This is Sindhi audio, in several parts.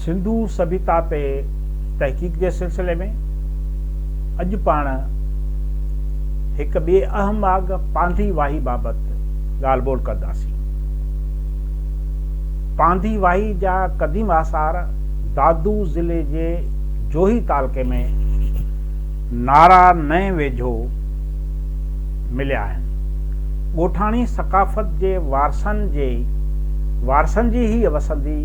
سنڌو سڀيتا تي تحقيق جي سلسلي ۾ اڄ پاڻ هڪ ٻي اهم آڳ پانڌي واهي بابت ڳالهه ٻولهه ڪنداسين. پانڌي واهي جا قديم آثار دادو ضلعي جي جوهي تعلقي ۾ نارا نئين ويجهو مليا آهن. ڳوٺاڻي ثقافت جي وارثن جي وارثن جي هيء وسندي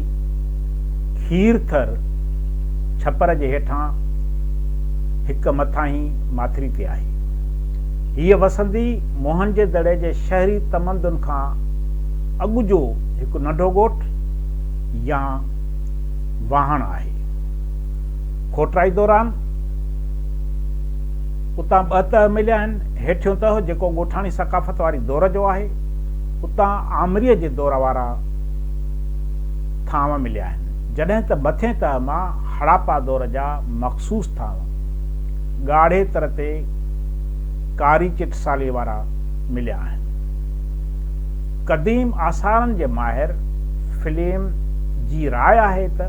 کير ٿر ڇپر جي هيٺان هڪ مٿاهين ماٿري تي آهي. هيء وسندي موهن جي دڙي جي شهري تمدن کان اڳ جو هڪ ننڍو ڳوٺ يا واهڻ آهي. کوٽرائي دوران، اتان ٻه تهه مليا آهن، هيٺيون تهه جيڪو ڳوٺاڻي ثقافت واري دور جو آهي، اتان آمريء جي دور وارا ٿانو مليا آهن، جڏهن ته مٿين تهه مان هڙاپا دور جا مخصوص ٿانو، ڳاڙهي تر تي ڪاري چٽساليء وارا مليا آهن. قديم آثارن جي ماهر فليم جي راء آهي ته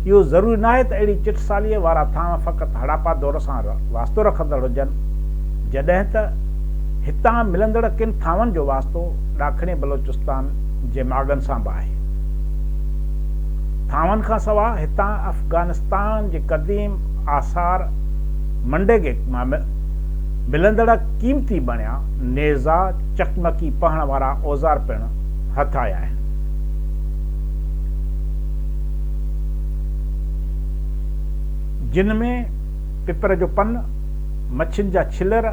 اهو ضروري ناهي ته اهڙي چٽساليء وارا ٿانء فقط هڙاپا دور سان واسطو رکندڙ هجن، جڏهن ته هتان ملندڙ ڪن ٿانون جو واسطو ڏاکڻي بلوچستان جي ماڳن سان به آهي. ٿانون کان سواء هتان افغانستان جي قديم آثار منڊيگڪ مان ملندڙ قيمتي بڻيا نيزا، چقمقي پهڻ وارا اوزار پڻ هٿ آيا آهن. جن ۾ پپر جو پن، مڇين جا ڇلر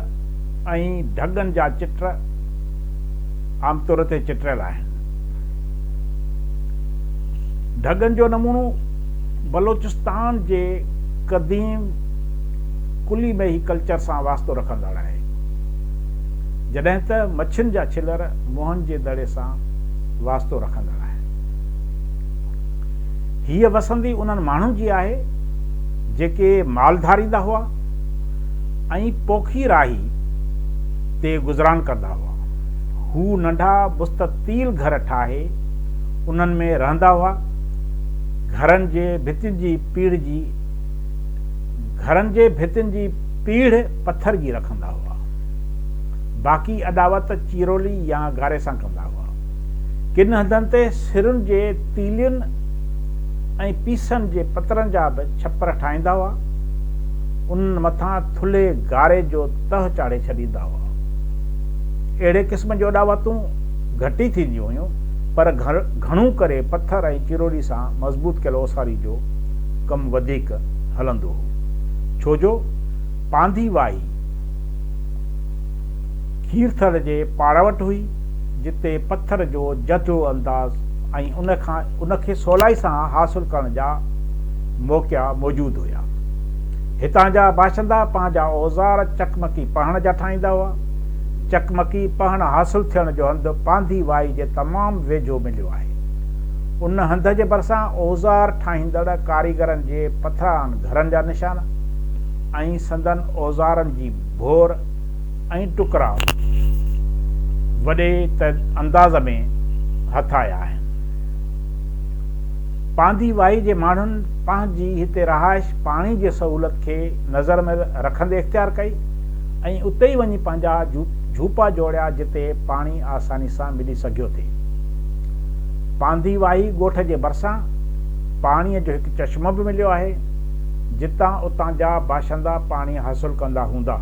۽ ڍڳن جا چٽ عام طور تي چٽريل آهن. ڍڳن جو نمونو بلوچستان جي قديم ڪلي ميهي ڪلچر سان واسطو رکندڙ آهي. جڏهن ته مڇين جا ڇلر موهن جي دڙي سان واسطو رکندڙ آهن. هيء وسندي انهن ماڻهن جي آهي، جيڪي مال ڌاريندا هئا ۽ پوکي راهي تي گذران ڪندا هئا. هو ننڍا مستطيل گهر ٺاهي انهن ۾ رهندا هئا. گهرن جي ڀتين جي پيڙهه گهرن جي ڀتين جي پيڙهه پٿر جي رکندا هئا. باقي اڏاوت چيرولي يا گاري سان ڪندا هئا. ڪن هنڌن تي سرن جي تيلين ۽ پيسن جي پترن جا به ڇپر ٺاهيندا هئا. انهن مٿان ٿلهي گاري جو تهه چاڙهي ڇڏيندا هئا. اهڙي قسم جون اڏاوتون گهٽي ٿينديون هيون، پر گهڻو ڪري پٿر ۽ چيرولي سان مضبوط ڪيل اوساري جو ڪم وڌيڪ هلندو هو. ڇو جو پانڌي واهي، کير ٿر جي پاڙ وٽ هئي، جتي پٿر جو جهجهو انداز ۽ ان کي سولائي سان حاصل ڪرڻ جا موقعا موجود هيا. هتان جا باشندا پنهنجا اوزار چقمقي پهڻ جا ٺاهيندا هئا. چقمقي پهڻ حاصل ٿيڻ جو هنڌ پانڌي وائي جي تمام ويجهو مليو آهي. ان هنڌ جي ڀرسان اوزار ٺاهيندڙ ڪاريگرن جي پٿرائن گهرن جا نشان. ۽ سندن اوزارن جي ڀور ۽ ٽڪرا وڏي انداز ۾ هٿ آيا آهن. پاندي واهي جي ماڻهن پنهنجي هتي رهائش پاڻي جي سهولت کي نظر ۾ رکندي اختيار ڪئي ۽ اتي ئي وڃي پنهنجا جهوپا جوڙيا جتي پاڻي آساني سان ملي سگهيو ٿي. پاندي واهي ڳوٺ جي ڀرسان پاڻي جو هڪ چشمو به مليو آهي. جتان اتان جا باشندا پاڻي حاصل ڪندا هوندا.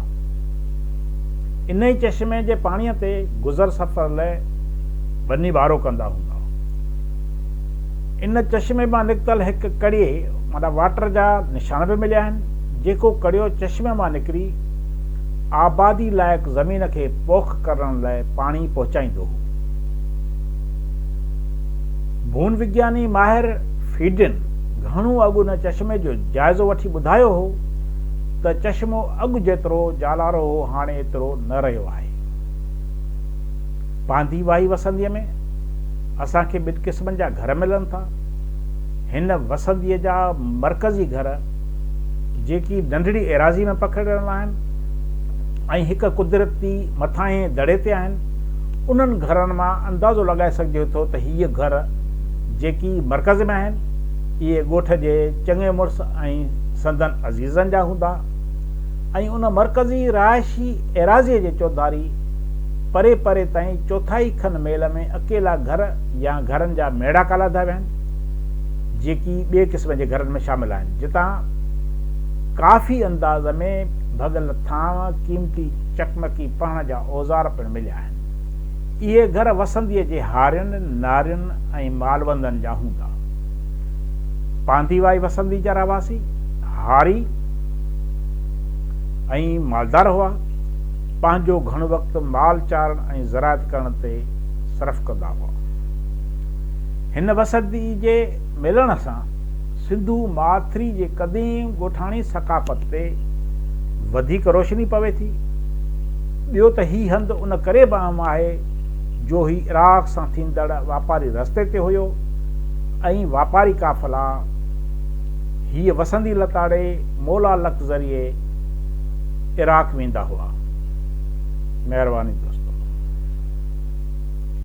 انهي چشمي جي پاڻي تي گذر سفر لئه ٻني وارو ڪندا هوندا. ان چشمي مان نڪتل هڪ ڪڙيي معنيٰ واٽر جا نشان به مليا آهن، جيڪو ڪڙيو چشمي مان نڪري آبادي لائق زمين کي پوک ڪرڻ لئه پاڻي پهچائيندو هو. ڀون وگياني ماهر فيڊن، گهڻو اڳ ان چشمي جو جائزو وٺي ٻڌايو هو ته چشمو اڳ جيترو جالارو هو هاڻي ايترو نه رهيو آهي. پانڌي واهي وسنديء ۾ اسان کي ٻن قسمن جا گهر ملن ٿا. هن وسنديء جا مرڪزي گهر جيڪي ننڍڙي ايراضي ۾ پکڙيل آهن ۽ هڪ قدرتي مٿاهين دڙي تي آهن انهن گهرن مان اندازو لڳائي سگهجي ٿو ته هيء گهر جيڪي مرڪز ۾ آهن اهي ڳوٺ جي چڱي مڙس ۽ سندن عزيزن جا هوندا ۽ ان مرڪزي رهائشي ايراضيء جي چوڌاري پري پري تائين چوٿائي کن ميل ۾ اڪيلا گهر يا گهرن جا ميڙاڪا لاڌا ويا آهن جيڪي ٻئي قسم جي گهرن ۾ شامل آهن جتان ڪافي انداز ۾ ڀڳل ٿانء قيمتي چڪمڪي پهڻ جا اوزار پڻ مليا آهن اهي گهر وسنديء جي هارين، نارين ۽ مالوندن جا هوندا. پانڌيوائي وسندي جا رهواسي هاري ۽ مالدار هئا. پنهنجو گهڻو وقت مال چارڻ ۽ زراعت ڪرڻ تي صرف ڪندا هئا. هن وسندي جي ملڻ سان سنڌو ماٿري جي قديم ڳوٺاڻي ثقافت تي وڌيڪ روشني پوي ٿي. ٻيو ته هي هنڌ ان ڪري به اهم آهي جو هي عراق سان ٿيندڙ واپاري رستي تي هيو ۽ واپاري قافلا هيء وسندي لتاڙي مولا لڪ ذريعي عراق ويندا هئا. مهرباني دوستو.